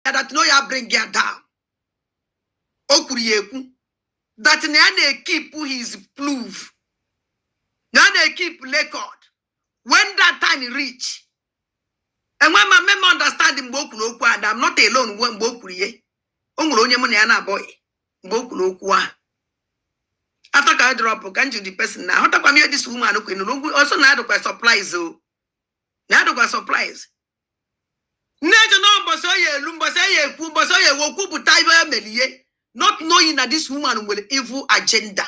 ya that na ọ ya bring ya down o kwuru ya ekwu that na ya na-ekipụ his proof na ya na-ekipụ record when that time reach enwe ma mme m understand mgbe o kwuru okwu ahụ that I'm not alone we- mgbe o kwuru ya o nwere onye mụ na ya na-abụghị mgbe o kwuru okwu ahụ after ka I drop ka m jụ the person na ahụtakwa m ihe this woman kwuru ọ sị na ya dụkwa surprise o na ya dụkwa surprise na-eche na mbọsị ọ ya elu mbọsị ọ ya ekwu mbọsị ọ ya ewe kwupụta ibe ya mere ihe not knowing na this woman nwere evil agenda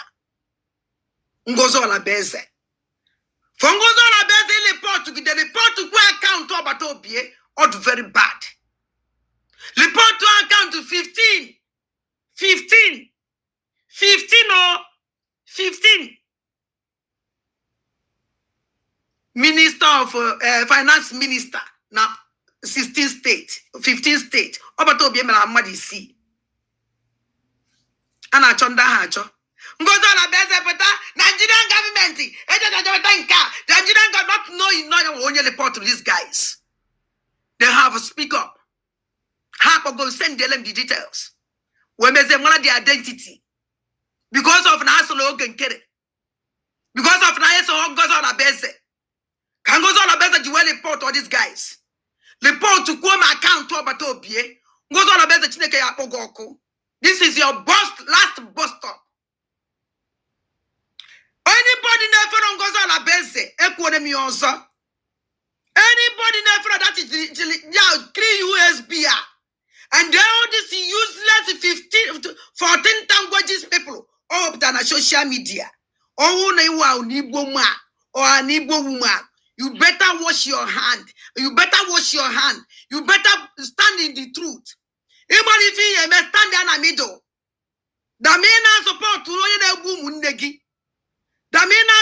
ngozi orabueze for ngozi orabueze report gide report kwuo akaụntụ ọbata obie ọ dị very bad report akaụntụ 15 15 15 o 15 minista of eh, finance minista na 16 steeti 15 steeti ọbata obie mere mmadụ isii a na-achọ ndị ahụ achọ ngozi orabueze pụta nigerian gọọmenti ejejejeweta nke a nigerian gọọmenti not knowing na o nwere onye report to these guys they have speak up ha akpọgo send them the details wee mezie mara the identity because of na ha soro oge nkere because of na ha eso ngozi orabueze ka ngozi orabueze ji wee report all these guys report kwuo ma akaụntụ ọbata obie ngozi orabueze chineke ya akpọ gị ọkụ this is your last bus stop anybody na-efere ngozi orabueze ekwuore m ya ọzọ anybody na-efere that is the- the- ya three usb a and then all these useless 15 14 languages people ọ wepụtara na social media ọ wụ na ị wụ an igbo man or an igbo woman you better wash your hand you better wash your hand you better stand in the truth even ife ị ya eme stand ya na middle than ị na-asọpọtụ onye na-egbu ụmụnne gị than ị na